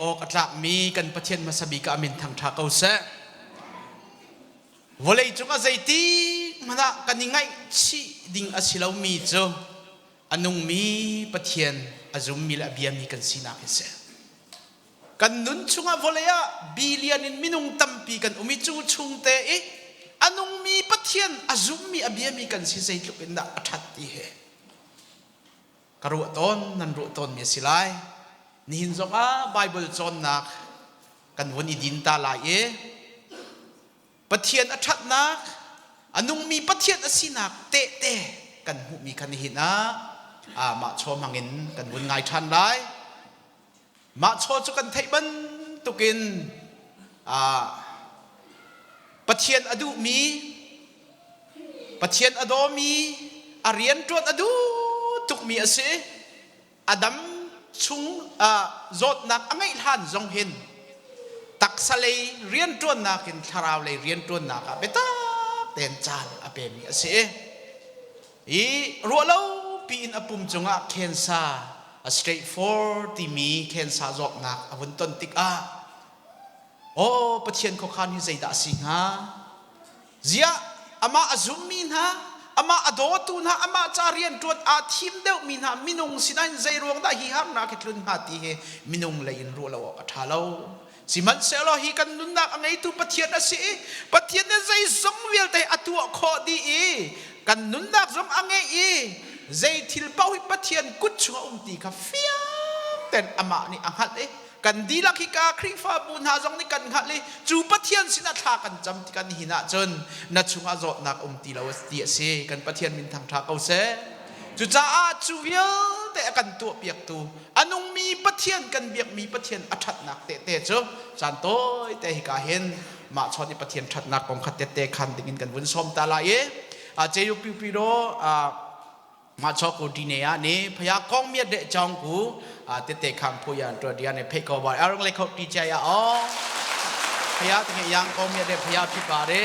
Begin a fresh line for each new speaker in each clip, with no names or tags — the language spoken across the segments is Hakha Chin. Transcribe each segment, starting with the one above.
awk a tlakmi kan Pathian hmasa bik ah min thangṭha ko seh. Vawlei cung ah zeiti hmanh ah kan i ngaihchih ding a si lomi cu a nungmi Pathian, a zummi le a biami kan sinak hi si. Kan nun chung ah vawlei ah billion in minung tampi kan um i cu chungte i a nungmi Pathian, a zummi, a biami kan si zeitluk in dah a ṭhat ti hi ka ruah tawn nan ruah tawnmi a si lai. Nihin zongah Baibal cawnnak kan von i din ta lai i Pathian a ṭhatnak, a nungmi Pathian a sinak tehte kan hmuhmi kha nihin ah mah chaw hmangin kan vun ngai ṭhan lai. Mah chaw cu kan theih bantukin Pathian a duhmi, Pathian a dawmi, a rianṭuan a duh tukmi a si. A dam chung zawtnak a ngeih hlan zong hin taksa lei rianṭuannak in thlarau lei rianṭuannak ah biatak tein caan a pemi a si. i ruahlopi in a pum cungah khensa, a straightforward timi khensa zawtnak a vun ton tikah Aw Pathian khuakhan hi zeidah a si hnga? Ziah amah a zummi hna, amah a dawtu hna, amah ca rianṭuan aa thim deuhmi hna minung sinain zei ruang dah hi harnak hi tlun hnga ti hi minung lei in ruah lo awk a ṭha lo. Sihmanhsehlaw hi kan nunnak a ngeitu Pathian a si i Pathian nih zeizong vialte a tuah khawh dih i kan nunnak zong a ngeih i zei thil paoh hi Pathian kut chungah a um ti kha fiang tein amah nih a hngalh i kan dihlak hika Khrihfabu hna zong nih kan hngalh i cu Pathian sinah thla kan cam ti kan hin ahcun na chungah zawtnak um ti lo ti a si. Kan Pathian min thangṭha ko seh. Cucaah cu vialte a kan tuahpiaktu a nungmi Pathian kan biakmi Pathian a ṭhatnak tehte cu caan tawite hika hin mah chawnh i Pathian ṭhatnak kong kha tette khan dingin kan vun sawm ta lai i Ceyukpyupyro machaw ku dine ah ni phaya kong mi de chong ku tete khang phu yan tua dia ne phei ko ba arang le kho pi chai a o phaya tenge yang kong mi de phaya phi pa re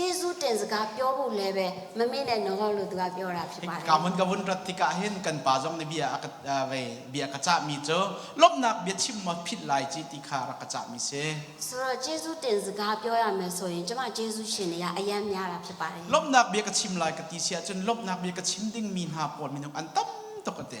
Jesuh ṭen zaka pyo bu le ve mami nih na ngol lu tuka pyo ra phi pa le.
Kamun ka vun rat tikah hin kan pa zong nih bia a ka vei bia ka cahmi cu lawmhnak bia chim maw philh lai ci ti kha rak ka cahmi si. Suro Jesuh ṭen zaka pyo ya me
so in cuma Jesuh shin ya ayam ya ra phi pa
le. Lawmhnak bia ka chim lai ka ti si ahcun lawmhnak bia ka chim dingmi hna pawl minung an tam tuk ate.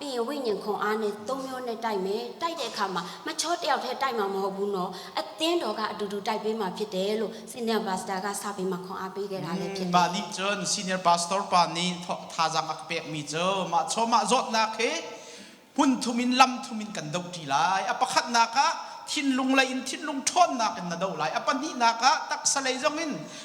Pi Wi Ning Hong aa ne Tongmyo ne tai me tai te kha ma ma chot el the tai ma ma ho bu no a ten do ga du du tai pe ma phit te lo senior pastor ga sa pe ma khong a pe ke ga le phit Mah nih cun
senior pastor pa nih thazaang a ka pekmi cu mah chaw mah zawtnak hi hmun thum in lam thum in kan do ṭi lai. A pakhatnak ah thinlung lei in thinlung ṭhawnnak in na do lai. A pahnihnak ah taksa lei zong in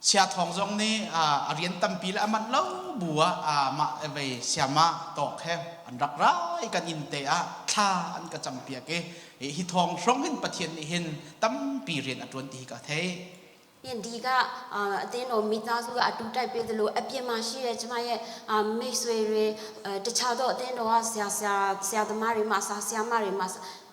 Sia Thawng zong nih a rian tampi le a manh lo bu ah mah vei siama tawk he an rak rai kan inn te ah thla an ka cam piak i hi thawng hrawng hin Pathian nih hin tampi rian a ṭuan ti hi ka thei. Di ka teno mita su atu tai pe delo apiama shi re chama ye me swe re tacha do teno
a sia sia sia da mari ma sa sia mari ma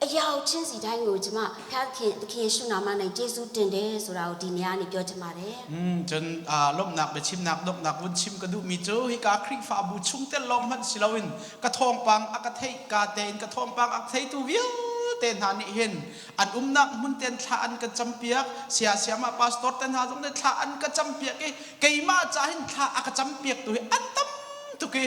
Ayau chin si dai ngo jima phan thin khin suna
ma nai te su ten de su rao di nia ni pyo jima re mm cun lomnak biachimnak donghnak vun chim ka duhmi cu hika khrihfabu chungtel lawng hmanh si loin ka thawngpang a ka theih ka tein ka thawngpang a theitu vialte hna nih hin an umnak hmun ten thla an ka campiak sia siama pastor te hna zong nih thla an ka campiak i keimah ca hin thla a ka campiak tu hi an tam tuk i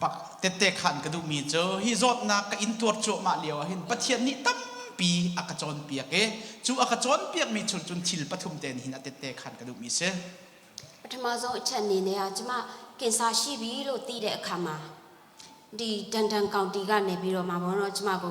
Pa tette khan ka duhmi cu hi zawtnak ka intuar cuahmah lioah hin Pathian nih tampi a ka cawnpiak i cu a ka cawnpiakmi chung cun thil pathum tein hin a tette khan ka duhmi a si. Pthama
zo chan ni ne ah cuma kinsa shi bi lo ti de khama di dan dan kaunti ga ne bi ro ma mo no cuma ko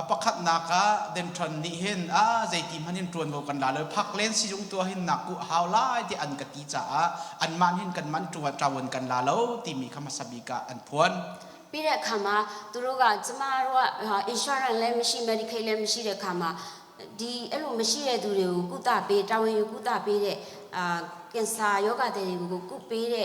A pakhatnak
ah Denton nih hin ah zeiti hmanh hin ṭuanvo kan la lo, Phak Len sizung tu ah hin nak kuh a hau lai tiah an ka ti caah anmah nih hin kanmah ṭuan ṭawun kan la lo timi kha hmasa bik ah an phuan. Pile khama
turuga chuma ruwa insurance le machine medical le machine khama di elu machine du le ku ta pe tawin ku ta pe le kensa yoga te ku ku pe le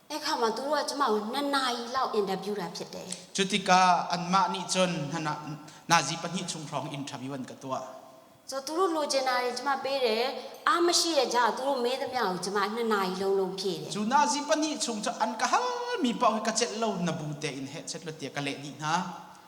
Ekhama tu ruah chuma
na nai lo NW ra phet de.
Cutikah anmah nih cun nazi pahnih chung hrawng interview an ka tuah. So turu lo January chuma bere
amashi le ja turu me da mya chuma na nai lo lo
phe de. Cu nazi pahnih chung cu an ka halmi paoh hi ka celh lo na bu tein heh chet lo tiah ka leh dih hna.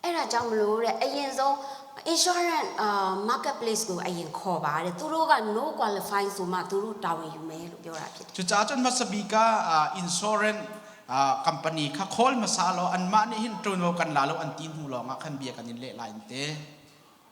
Era jamlu re
ayin zo insurance uh, marketplace ku ayin kho ba re turu ga no qualifying suma turu town yu me lu pyo ra phit cucaah cun
hmasabi ka uh, insurance uh, company kha khawl hmasa lo anmah nih hin ṭuno kan la lo an ti hnu lawngah khan bia kan in leh lai te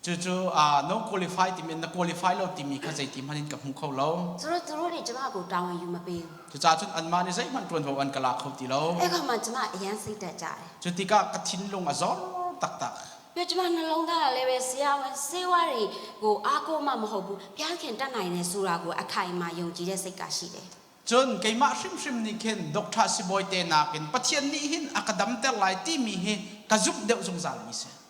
Cucu
uh, no qualify timi na qualify lo timi kha zeiti hmanh in ka hmu kho lo. Curu curu nih cuma ku tawng
yu ma ping. Cucacun
anmah nih zeihmanh ṭuanvo an ka la kho ti lo. E ka man cuma yan si ta
cha. Cu tikah
ka thinlung a zor taktak. Pe cuma na long da le we sia wen sewari
ku a ko ma ma ho bu pian khen ta ngai ne sura ku a khai ma yong ji de
sei ka shi de. Cun keimah hrimhrim nih khin Doctor Sibawi te nakin Pathian nih hin a ka damter lai timi hi ka zumh deuh zungzal mi si.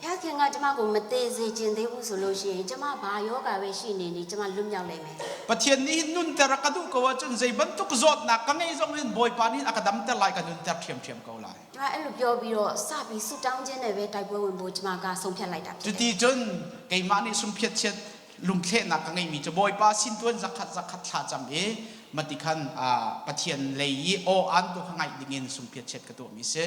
Hea theng nga chama ko mate ze chen te bu
so lo shi chama ba yoga we shi ne ni chama lum yak le
me. Pathian nih hin nunter a ka duh ko ahcun zei bantuk zawtnak ka ngeih zong hin Bawipa nih a ka damter lai ka nunter ṭhiamṭhiam ko lai. Chama elu pyo biro sa pi su tang
je ne we tai bo win bo chama ka song phiat lai ta.
Cuti cun keimah nih sumpiat chiat lungthlehnak ka ngeihmi cu Bawipa sin tu in zakhat zakhat thla cam i matikhan Pathian lei i aw-aan tu kha ngaih ding in sumpiat chiat ka tuahmi a si.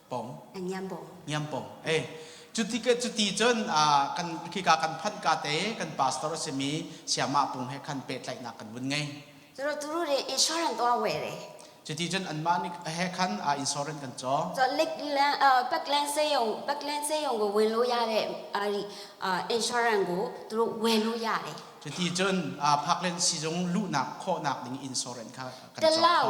pong Ngiampong
Ngiampong eh cuti ke cuti cun uh,
kan khika kan phanh ka te kan pastor simi siamah pung he khan pehtlaihnak
kan vun ngei Zoro turu re insurance tuang we re cuti cun anmah nih he
khan uh, insurance kan co So
lek lang uh, pak lang se yong pak lang se yong go wen lo ya re ari uh, insurance go turu we lo ya re cuti cun uh, phaklen
sizung luhnak khawhnak ding insurance kha kan co
Telau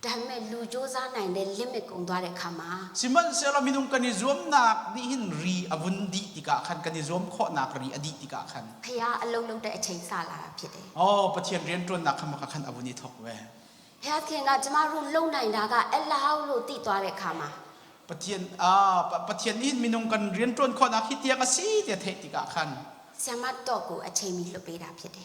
Ṭhan men lu cu zanai nel limit kong dua le khama. Sihmanhsehlaw minung kan i zuamnak nih
hin ri a vun dih tikah khan kan i zuam khawhnak ri a dih tikah khan.
Thei ah a lo lo ṭah i ṭhei sa la philh i. Aw Pathian rianṭuannak
kha maka khan a vun i thawk ve. Heathen ah cama
run lo nainak ah el a hau lo ti tua le khama. Pathian ah
Pathian nih hin minung kan rianṭuan khawhnak hi tiang a si tiah theih tikah
khan. Siangmat tuah ku a ṭheimi hluh pe dah philh i.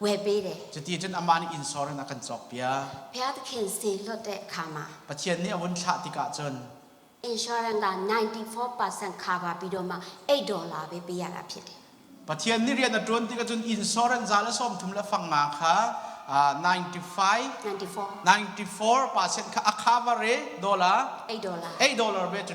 Webede. Cuticun amah nih insor
in a kan cawkpiak. Pia te khin
si hlawte khama. Pathian nih a vun
thlah tikah cun.
Insurance la ninety-four percent khava pidoma eight dollar be piar a phit. Pathian nih rian a ṭuan tikah cun insurance
za le sawmthum le fang nga kha ninety-five, ninety-four percent kha a khava re dollar, eight dollar,
eight dollar ve cu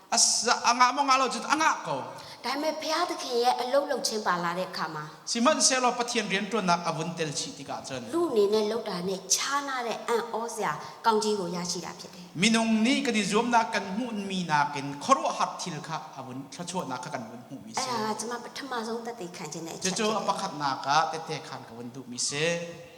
a ngah
maw ngah lo cun a ngah ko. Taime phia te
khi a lo lo chen pa la de kha ma. Sihmanhsehlaw Pathian
rianṭuannak a vun tel chih tikah cun. Lu nih ne lo ta ne cha
na le an aw zia kangṭi ro ya ci dah phiat he. Minung nih kan i zuamnak
kan hmuhmi nakin khuaruahhar thil kha a vun thluachuahnak kha kan vun hmuhmi a si. Cuma pathum
zong tete khan cun. Cucu a pakhatnak ah
tete khan ka vun duhmi a si.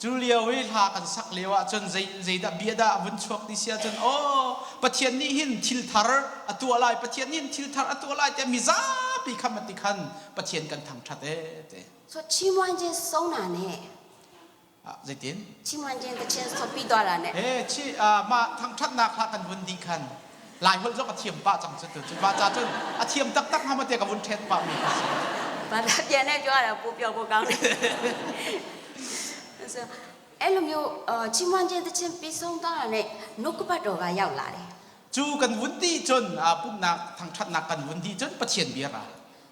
Cu lio i hla kan sak lio ahcun zeidah bia dah a vun
chuak ti si ahcun aw Pathian nih hin thilthar a tuah lai, Pathian nih hin thilthar a tuah lai tiah mizapi kha mati khan
Pathian kan thangṭhat ee ti. So Chimuanjen Sona nih.
Ah, zeitin? Chimuanjen
the Chancellor Pi Dola nih. Ee, mah thangṭhatnak hla kan vun dih
khan Laiholh cu a ka thiam pah cang cu tu cu. Va ca cun a thiam taktak hnga maw tiah ka vun ṭhen pahmi ka si. Pathian he
cun a pu pio ko kang. So, elum yu chimwanjel te chen pi song ta ne nukkupat ga yau
la le. Cu kan vun ti cun pumhnak thangṭhatnak kan vun dih cun Pathian bia ra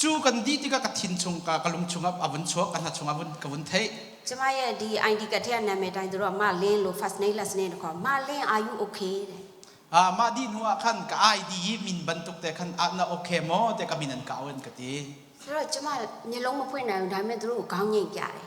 Cu kan dih tikah ka thin chung ka ka lung chungah a vun chuak ka hna chungah vun ka vun theih.
Chumaya di ID ka thia na me dai dro ma len lo fas nei las ne ko ma len are you okay le. Ah mah dih hnu ah khan ka ID hi
min bantuk te khan ah na okay maw te ka min an ka awen ka ti.
Ro chuma ni long ma pui na dai me dro ka ngen kya le.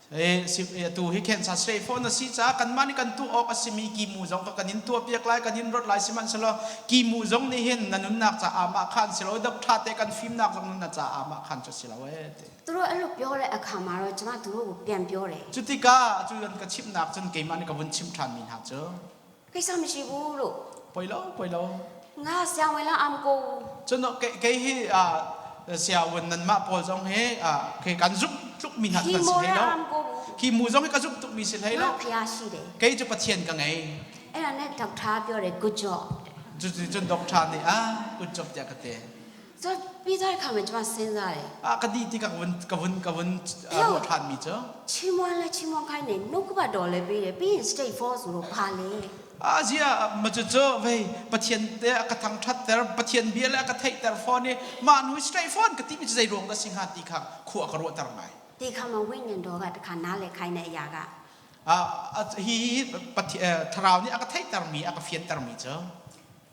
tu hi khensa straight
phone a si caah kanmah nih kan tuah awk a simi kimu zong kha kan in tuahpiak lai kan in rawt lai sihmanhsehlaw kimu zong nih hin na nunnak caah mah khan si lo dok ṭha te kan fimnak zong nunnak
caah mah khan cu si lo ee ti tu ro an ru pyo re akha ma ro changa tu ro pian pyo re cu tikah cu an
ka chimnak cun keimah nih ka vun chim ṭhan mi hna cu
Keisang mi si bu lu. Poi lo, poi
lo. Nga siang wei
lang am ko. Cun kei kei hi siawen
nan mah pawl zong hi kei kan zumh tluk mi hna kan si hlei lo. Hi mu zong hi ka
zumh tuk mi si hlei lo. Kei cu Pathian ka ngei.
Ena ne dok
tha pyo re good job. Cu cun dok tha nih a
good job tiah ka te. Cu
Peter kha mit va sen lai. Ah ka dih tikah ka vun ka
vun ka vun ruah ṭhanmi cu chimuan le
chimuang kai nei nukuba dawr le pi le pin stay for zuru pa le a zia ma cu cu vei pathian te a ka
thang ṭhat ter pathian bia le a ka theih ter fawn i ma nu straight phone ka ti mi zei ruang dah si hnga ti kha khua
ka ruah ter ngai ti kha ma win yan do ga ta kha na le khai na ya ga a hi
hi pathian thlarau nih a ka theih ter mi a ka fian ter mi cu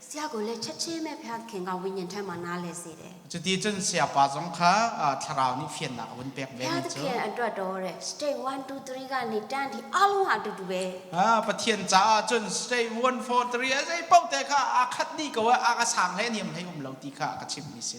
Siagu le Chachi
me phean khi nga win in thema na le si de. Cuti cun sayapa
zong kha thlarau nih fiannak a vun pek ve mi cu. Pathian
adra dore stay one two three ga ni tan hi alung a dudu ve. Pathian
caah cun stay one four three a zei paoh te kha aa khat dih ko i aa ka sang hlei a niam hlei um lo ti kha a ka chimh mi si.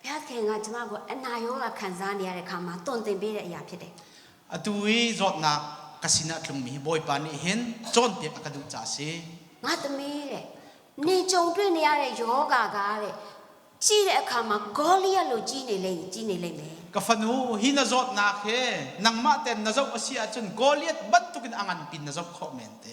Piatte nga chama go anna
yo ga khan za ni are khama ton te be re ya phite. Atu i
zawtnak ka sinah tlungmi hi Bawipa nih hin cawnpiak a ka duh ca a si. Ngatami re
ne chongtwe ni are yoga ga re chi re khama golia lo chi ne le chi ne le me. Ka fanu,
hi na zawtnak hi nangmah tein na zoh a si ahcun Goliath bantukin a ngan pin na zoh khawh men te.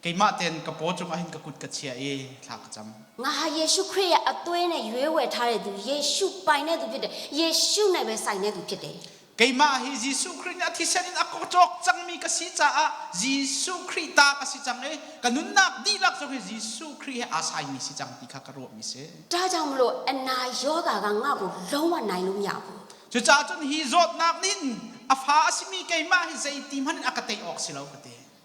Keimah tein
ka paw cungah hin ka kut ka chiah i thla ka cam. Ngaha Yesu Khrih a tuai
ne yue we thare du Yesu pai ne du
phite Yesu nai we sai ne du phite Keimah hi Jesuh Khrih nih a thisen in a kawk cawk cangmi ka si caah Jesuh Khrih ta ka si cang i ka nunnak dihlak cu hi Jesuh Khrih he aa saimi si cang ti kha ka ruahmi si. Ta jang lo na yoga
ga nga bu lo wa nai lum ya bu.
Cucaah cun hi zawtnak nih hin a fa a simi keimah hi zeiti hmanh in a ka tei awk si lo ka ti.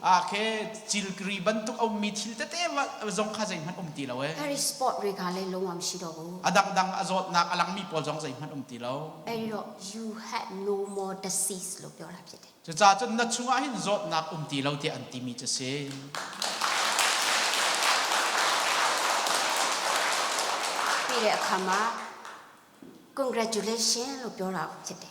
Ah khe cilkiri bantuk a ummi thil tete zong kha zeihmanh um ti lo e. There is sport regale
longam si lo bu. A dangdang a
zawtnak a langmi pawl zong zeihmanh um ti lo. Elo you
had no more disease lo pyo la pye de. Cucaah cun na
chungah hin zawtnak um ti lo tiah an timi cu si.
Pile khama congratulations lo pyo la pye de.